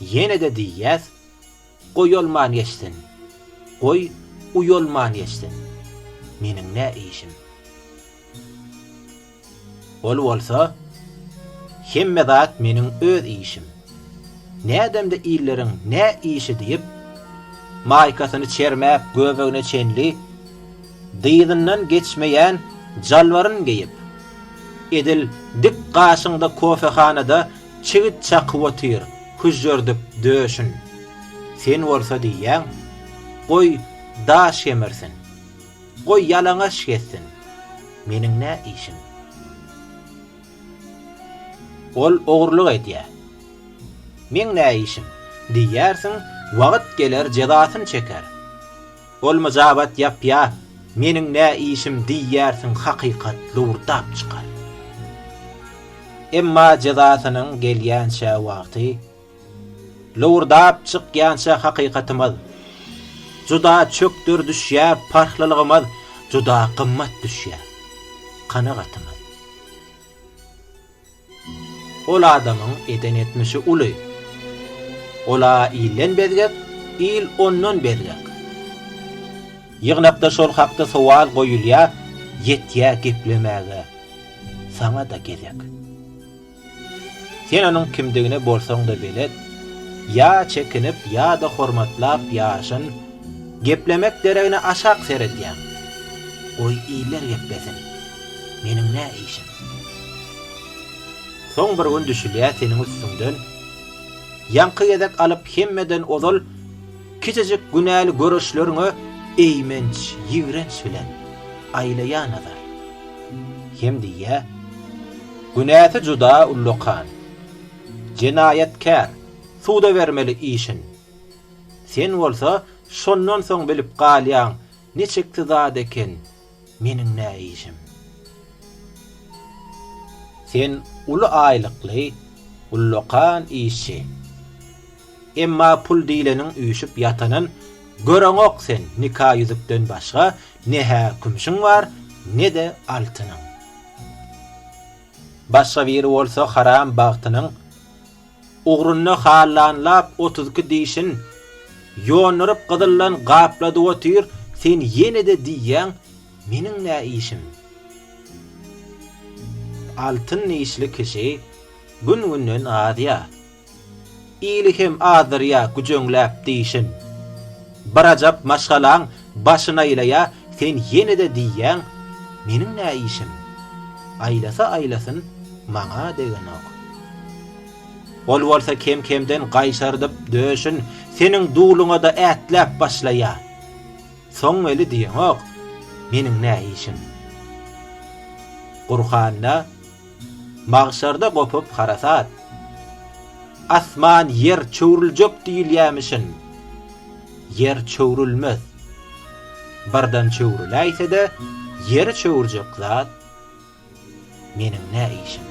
Ýene-de diýýäs, Goýalman geçsin, goý, uýalman geçsin. Meniň nä işim? Ol bolsa, Hemme zat meniň öz işim. Nädemde illeriň nä işi diýip, maýkasyny çermäp göbegine çenli, dyzyndan geçmeýän jalbaryn geýip, edil dik gaşyňda kofehanada Çigit çakyp otyr hüžžürdip döşün, sen bolsa diýýäň, Goý, daş gemirsin, goý, ýalaňaç gezsin, meniň nä işim? Ol ogurlyk edýär, meň nä işim? diýersiň, wagt geler jezasyn çeker. Ol myjabat ýapýa, Meniň nä işim diýýärsiň hakykat lowurdap çykar. Emma jezasynyň gelýänçä wagty, lowurdap çykýança hakykatymyz juda çökder düşýä parhlylygymyz juda gymmat düşýä kanagatymyz. Ol adamyň eden etmişi uly. Ol-a ilden bezgek, il ondan bezgek. Ýygnakda şol hakda sowal goýulýa, ýetýä geplemäge saňa-da gezek. Sen onuň kimdigine bolsaň-da belet, ýa çekinip ýa-da hormatlap ýaşyn, geplemek deregine aşak seredýäň. Goý iller geplesin. Meniň nä işim? Soň bir gün düşülýä seniň üstüňden Ýaňky gezek alyp hemmeden ozal Kiçijik günäli göreşleriňe Eýmenç, ýigrenç bilen aýlaýa nazar. Hem diýýä, Günäsi juda ullakan, Jenaýatkär, suda bermeli işin. Sen bolsa şondan soň bilip galýaň Ne çekdi zat eken meniň näişim. Sen uly aýlykly, ullakan işçi. Emma pul diýleniň üýşüp ýatanyn göreňok sen nika ýüzükden başga ne-hä kümşüň bar, ne-de altynyň. Başga biri bolsa haram bagtynyň. Ugrunda hallanlap otuz iki dişin Ýonduryp gyzyldan gapladyp otyr Sen ýene-de diýýäň, meniň nä işim? Altyn dişli kişi gün-günden azýar Ili hem azdyrýar güjeňläp dişin Birajap maşgalaň Başyn aýlaýa sen ýene-de diýýäň meniň nä işim? Aýlasa aýlasyn maňa degenok. Ol bolsa kem-kemden gaýşardyp döşün seniň duluňa-da ätläp başlaýa. Soň weli diýeňok meniň nä işim? Gurhanda. Magşarda gopup harasat. Asman ýer çöwrüljek diýilýämişin. Ýer çöwrülmez. Birden çöwrüläýse-de, ýeri çöwürjek zat meniň nä işim?